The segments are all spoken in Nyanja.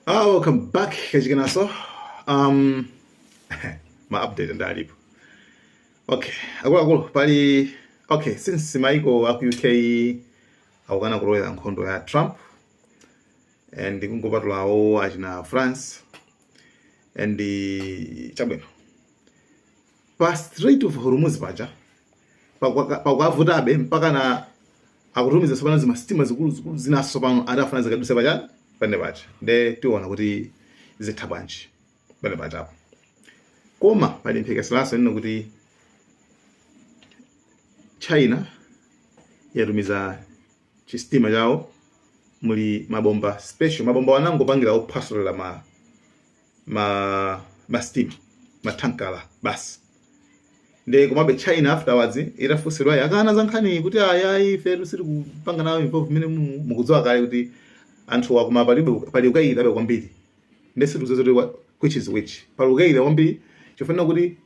Ah, welcome back kachikenaso um, ma update ndalipo okay akuluakulu pali okay since maiko aku uk akukana kulowera nkhondo ya trump and kungopatulawo achina france and chabwino pa Strait of Hormuz paja pakwaka- pakwavutabe mpaka na akutumiza sopano zimasitima zikuluzikulu zinaso tsopano ati afuna zikaduse pachani pane paja nde tiona kuti zitha bwanji pane pajapo koma pali mphekeseraso nino kuti china yatumiza chistima chawo muli mabomba special mabomba ongopangira ophwasulira ma ma mastima mathankala basi nde komabe china afterwards itafunsidwa yakana za nkhani kuti ayayi ife sitili kupanga nawo involve mene mu- mukudziwa kale kuti anthu akuma palibe pali ukayikirabe kwambiri nde sitikudziwa kuti wa- which is which pali ukayikira kwambiri chifukwa kuti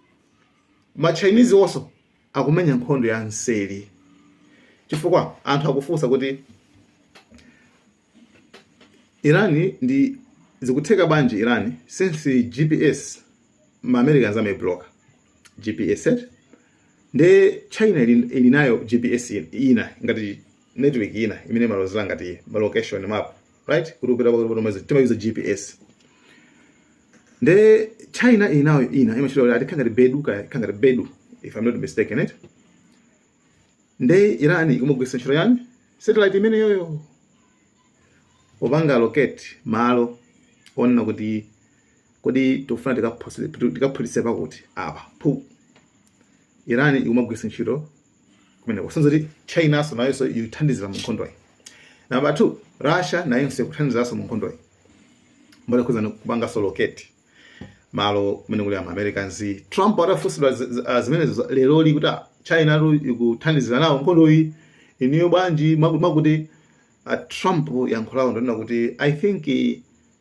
ma chinese also akumenya nkhondo ya nseri chifukwa anthu akufunsa kuti Iran ndi zikutheka bwanji Iran since GPS ma Americans amabloka GPS set nde China ili, ili nayo GPS ina ngati network ina imene imalozera ngati ma location map right kuti upita pakati pa mwezi timayuza gps nde china ili nayo ina imachita kuti atikhala ngati bedu kaya ikhala ngati bedu if i'm not mistaken it nde irani ikumagwiritsa ntchito chani satellite imeneyoyo popanga locate malo onena kuti kodi tikufuna tikaphulitse pakuti apa phu irani ikumagwiritsa ntchito zimene kusonyeza kuti chinaso nayonso ikuthandizira mu nkhondoyi namba 2 russia nayonso ikuthandizaso mu nkhondoyi mbali yokhuzana kupangaso locate malo kumene kuli ama americans trump atafunsidwa zi- zi- ah, zimenezo za- lero li kuti ah, china lu ikuthandizira nawo nkhondoyi inuyo bwanji mwaku- mwakuti ah, trump yankho lawo ndi onena kuti i think eh,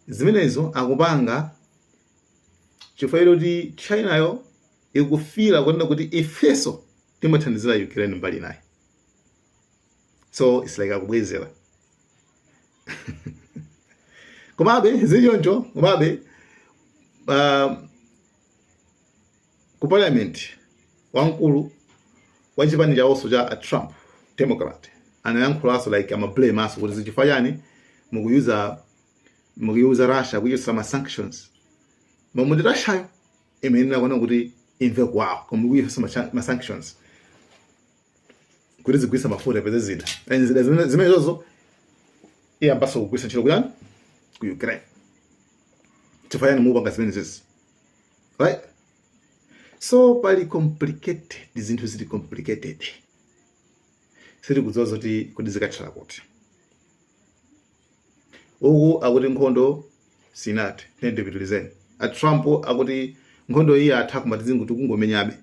zimenezo akupanga chifukwa choti chinayo ikufiila kunena kuti ifeso timathandizila Ukraine mbali inayo so its like akubwezela komabe zichoncho komabe uh, ku parliament wamkulu wa chipani chawoso cha a Trump Democrat anayankhulanso like amablame aso kuti nchifukwa chani mukuyuza mukuyuza Russia kuchotsa ma sanctions momwe ndi Russiayo imayenera kuona kuti imve kuwawa koma ikuyesa macha- ma sanctions kuti azigulitsa mafuta peze zida and zida zimene- zimenezozo iyambaso kugwiritsa ntchito kuyani ku ukraine chifukwa chani mupanga zimenezezi right so pali complicated zinthu zili complicated sitikudziwa zoti kuti zikathera kuti uku akuti nkhondo sinathe ndipitilizeni a trump akuti nkhondo iyi yatha koma tizingo tikungomenyabe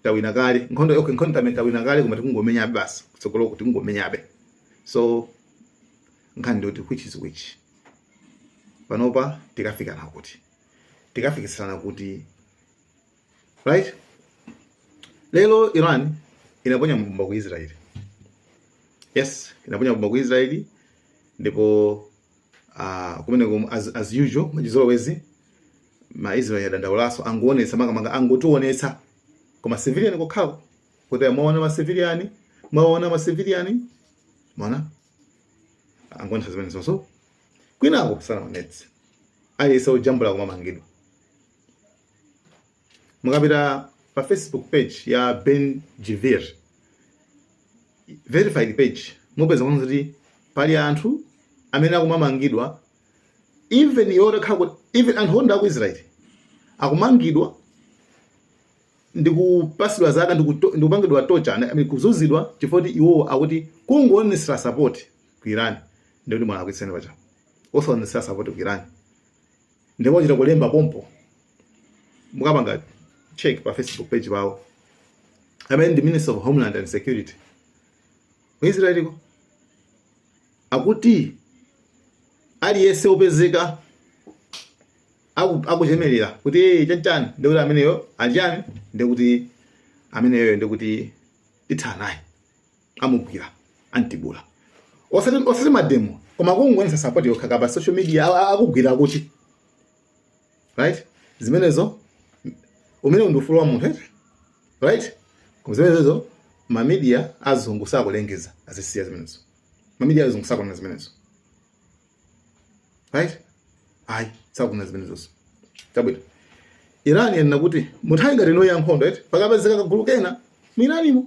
tawina kale nkhondo okay nkhondo tamene tawina kale koma tikungomenyabe basi kutsogolo kuti kungomenyabe so nkhani ndoti which is which panopa tikafikana kuti tikafikisana kuti right lero iran inaponya mabomba ku israel yes inaponya mabomba ku israel ndipo uh, kumeneko as, as usual mwachizolowezi ma israel adandaulaso angoonetsa makamaka angotionetsa kuma civilian kokhawo kuti mwaona ma civilian mwaona ma civilian mwaona angoonetsa zimenezonso kwinako sanaonetse aliyese ojambula kumamangidwa mukapita pa facebook page ya ben gvir verified page mupeza kuona kuti pali anthu amene akumamangidwa even iwo takhala kuti even anthu oyenda aku israeli akumangidwa ndikupasidwa zaka ndikuto- ndikupangidwa torture I mean, kuzuzidwa chifukwa kuti iwowo akuti kungoonetsera sapoti ku iran ndikuti mwalakwitsa ndipo osaonetsera sapoti ku iran ndipo achita kulemba pompo mukapanga check pa facebook page pawo amene ndi minister of homeland and security ku israeliko akuti aliyense opezeka akuchemerera kuti chanchani ndikuti ameneyo achani ndikuti ameneyo ndikuti athana naye amugwira amtibula osati osati mademo koma kungoonesa support yokha pa social media a- a- akugwira akuchi right zimenezo umenewo ndi ufulu wa munthu eti right koma zimenezo ma media azungu sakulengeza azisiya zimenezo ma media azungu sakunena zimenezo right ayi sakunena zimenezozo chabwino iran yanena kuti munthawi ngati ino ya nkhondo eti pakapezeka kagulu kena mu iranimo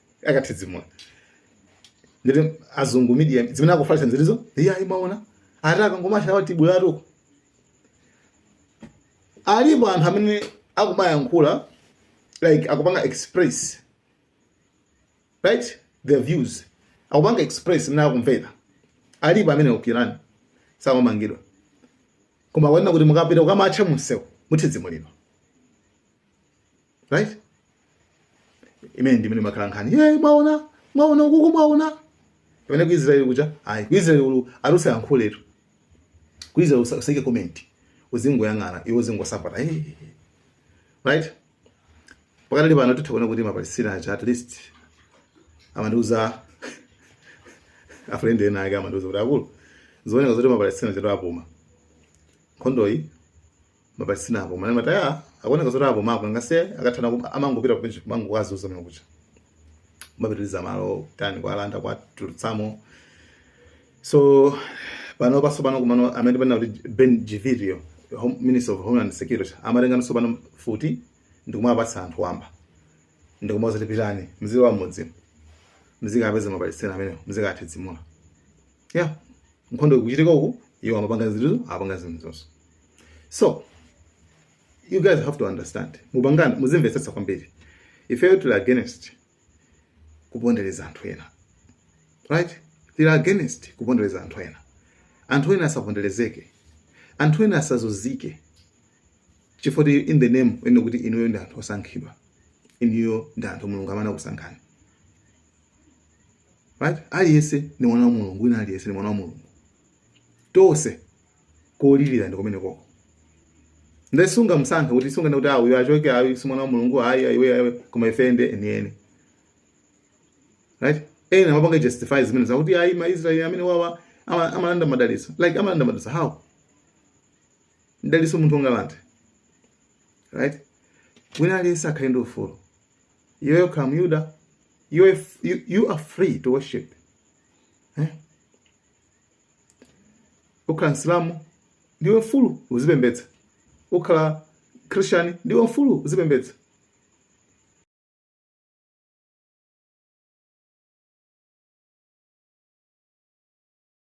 akathidzimula ndiye azungu media zimene akufalitsa zili izo iye ayi mwaona ati akangomatcha awa tibwera atoko alipo anthu amene akumayankhula like akupanga express right their views akupanga express mmene akumvera alipo amene ukirani sakumangidwa koma kunena kuti mukapita kukamatcha mumsewu muthidzimulidwa right imene ndi imene imakhala nkhani ye mwaona mwaona ukuuku mwaona pamene ku israeli kuja ayi ku israeli ulu alusa yankhuletu ku israeli usa- usaike comment uzingoyang'ana iwe uzingosapota eh right pakati pano titha kuona kuti mapalestina aja at least amandiuza afriend enaake amandiuza kuti akulu zikuoneka zoti mapalestina chatu apuma nkhondoyi mapalestina apuma manja ataya akuoneka zoti apumako ngati akathana ku- amangopita kuujeni kumango kwa zozo zimene zija amapitiliza malo tani kuwalanda kuwatulutsamo so panopa so panopa komano amene kunena kuti ben gvir uyo Home- minister of homeland security amatenganso pano mfuti ndikumapatsa anthu wamba ndikumauza kuti pitani mzilowa mmudzi mzikapeza mapalestina amenewo mzikawathidzimula yeah nkhondo ikuchitika uku iwo amapanga zinthu apanga zinthu zonse so you guys have to understand mupange kuti muzimvetsetsa kwambiri ifeyo tili against kupondereza anthu ena right tili against kupondereza anthu ena anthu ena asaponderezeke anthu ena asazunzike chifukwa choti in the name yonena kuti inuyo ndi anthu osankhidwa inuyo ndi anthu mulungu amene anakusankhani right aliyense ndi mwana wa mulungu wina aliyense ndi mwana wa mulungu tonse kolilira ndi kumene koko nde sungamsankhe kuti sunganene kuti awa achoke awa si mwana wa mulungu ayi ayi iwe ayi koma ife ndi enieni right ena amapanga justify zimenezo kuti ayi ma israeli amenewawa ama- amalanda madalitso like amalanda madalitso how mdalitso munthu ungalande right wina aliyense akhale ndi ufulu iweyo ukhala muyuda you are, you, you are free to worship eh? ukhala msilamu ndiwe mfulu uzipembedza ukhala christian ndiwe mfulu uzipembedza